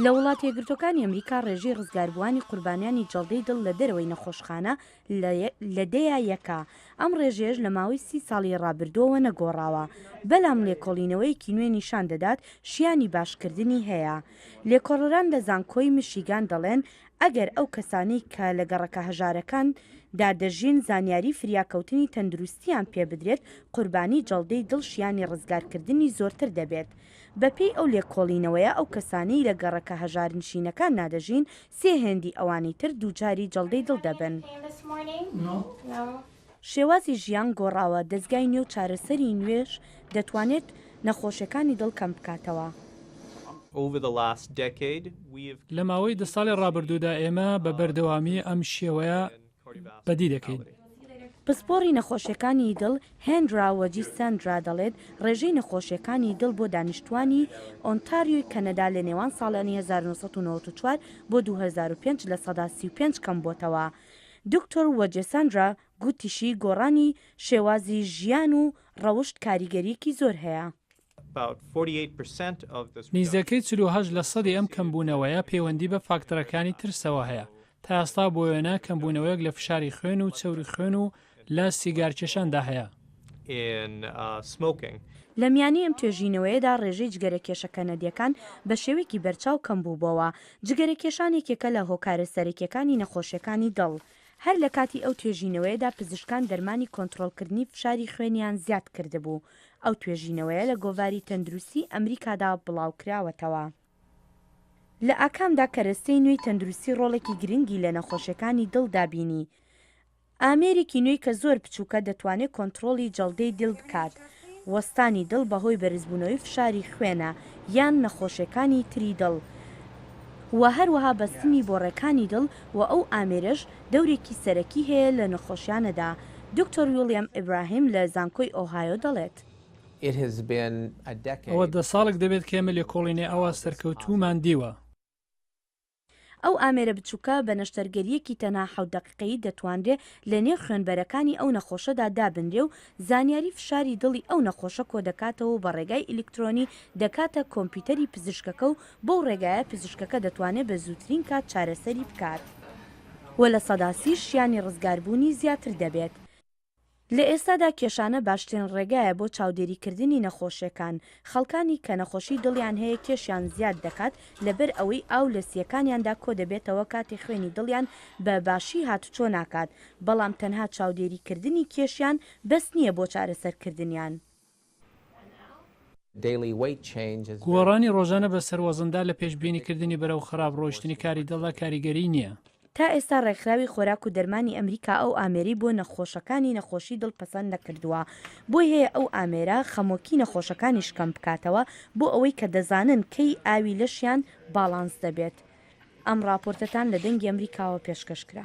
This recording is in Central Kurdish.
لە وڵاتە یەکگرتووەکانی ئەمریکا ڕێژەی ڕزگاربووانی قوربانیانی جەڵدەی دڵ لە دەرەوەی نەخۆشخانە لە دەیە یەکە، ئەم ڕێژەیەش لە ماوەی سی ساڵی ڕابردووەوە نەگۆڕاوە، بەلام لێکۆڵینەوەیەکی نوێ نیشان دەدات شیانی باشکردنی هەیە. لێکۆڵەران لە زانکۆی میشیگان دەڵێن ئەگەر ئەو کەسانەی کە لە گەڕەکە هەژارەکان دا دەژین زانیاری فریاکەوتنی تەندروستییان پێ بدرێت قوربانی جەڵدەی دڵ شیانی ڕزگارکردنی زۆرتر دەبێت بەپێی ئەو لێکۆڵینەوەیە ئەو کەسانەی لە گەڕەکە هەژارنشینەکاننا دەژین سێ هێندی ئەوانی تر دووچاری جەڵدەی دڵ دەبن. شێوازی ژیان گۆڕاوە، دەزگای نوێ و چارەسەری نوێش دەتوانێت نەخۆشیەکانی دڵ کەم بکاتەوە. لە ماوەی دە ساڵی ڕابردوودا ئێمە بە بەردەوامی ئەم شێوەیە بەدی دەکەین. پسپۆڕی نەخۆشیەکانی دڵ هێنرا وەجی سەندرا دەڵێت ڕێژەی نەخۆشیەکانی دڵ بۆ دانیشتوانی ئۆنتاریۆی کەنەدا لە نێوان ساڵانی هەزار و نۆ سەد و نەوەد و چوار بۆ دوو هەزار و پێنج لە سەدا سی و پێنج کەمبووەتەوە دکتۆر وەجێ سەندرا گوتیشی گۆڕانی شێوازی ژیان و ڕەوشت کاریگەریەکی زۆر هەیە. نیزەکەی چل و هەشت لە سەدی ئەم کەمبوونەوەیە پەیوەندی بە فاکتەرەکانی ترسەوە هەیە تا ئێستا بۆ وێنە کەمبوونەوەیەک لە فشاری خوێن و چەوری خوێن و لە سیگارکێشاندا هەیە. لە میانی ئەم توێژینەوەیەدا ڕێژەی جگەرەکێشە کەنەدییەکان بە شێوەیەکی بەرچاو کەمبووبۆوە، جگەرەکێشان یەکێکە لە هۆکارە سەرەکییەکانی نەخۆشییەکانی دڵ، هەر لە کاتی ئەو توێژینەوەیەدا پزیشکان دەرمانی کۆنتڕۆڵکردنی فشاری خوێنیان زیاد کردبوو، ئەو توێژینەوەیە لە گۆڤاری تەندروستی ئەمریکادا بڵاوکراوەتەوە. لە ئاکامدا کەرەستەی نوێی تەندروستی ڕۆڵێکی گرنگی لە نەخۆشیەکانی دڵدا بینی، ئامێرێکی نوێی کە زۆر بچووکە دەتوانێت کۆنتڕۆڵی جەڵدەی دڵ بکات، وەستانی دڵ بەهۆی بەرزبوونەوەی فشاری خوێنە یان نەخۆشیەکانی تری دڵ و هەروەها بەستنی بۆڕەکانی دڵ و ئەو ئامێرەش دەورێکی سەرەکی هەیە لە نەخۆشیانەدا، دکتۆر ویڵیام ئیبراهیم لە زانکۆی ئۆهایۆ دەڵێت. ئەوە دە ساڵێک دەبێت کە ئێمە لێکۆڵینەی ئاوا سەرکەوتوومان دیوە. ئەو ئامێرە بچووکە بە نەشتەرگەرییەکی تەنها حەوت دەقیقەیی دەتوانرێ لە نێو خوێنبەرەکانی ئەو نەخۆشەدا دابنرێ و زانیاری فشاری دڵی ئەو نەخۆشە کۆدەکاتەوە و بە ڕێگای ئیلکترۆنی دەکاتە کۆمپیوتەری پزیشکەکە و بەو ڕێگایە پزیشکەکە دەتوانێت بە زووترین کات چارەسەری بکات و لە سەدا سی شیانی ڕزگاربوونی زیاتر دەبێت. لە ئێستادا کێشانە باشترین ڕێگایە بۆ چاودێریکردنی نەخۆشیەکان، خەڵکانی کە نەخۆشی دڵیان هەیە کێشیان زیاد دەکات لەبەر ئەوەی ئاو لە سیەکانیاندا کۆدەبێتەوە کاتێ خوێنی دڵیان بە باشی هاتوچۆ ناکات، بەڵام تەنها چاودێریکردنی کێشیان بەس نییە بۆ چارەسەرکردنیان. گۆڕانی ڕۆژانە بە سەر وەزندا لە پێشبینی کردنی بەرەو خراپ ڕۆیشتنی کاری دڵدا کاریگەری نییە. تا ئێستا ڕێکخراوی خۆراک و دەرمانی ئەمریکا ئەو ئامێرەی بۆ نەخۆشەکانی نەخۆشی دڵ پەسەند نەکردووە، بۆی هەیە ئەو ئامێرە خەمۆکی نەخۆشەکانیش کەم بکاتەوە بۆ ئەوەی کە دەزانن کەی ئاوی لەشیان باڵانس دەبێت. ئەم ڕاپۆرتەتان لە دەنگی ئەمریکاوە پێشکەش کرا.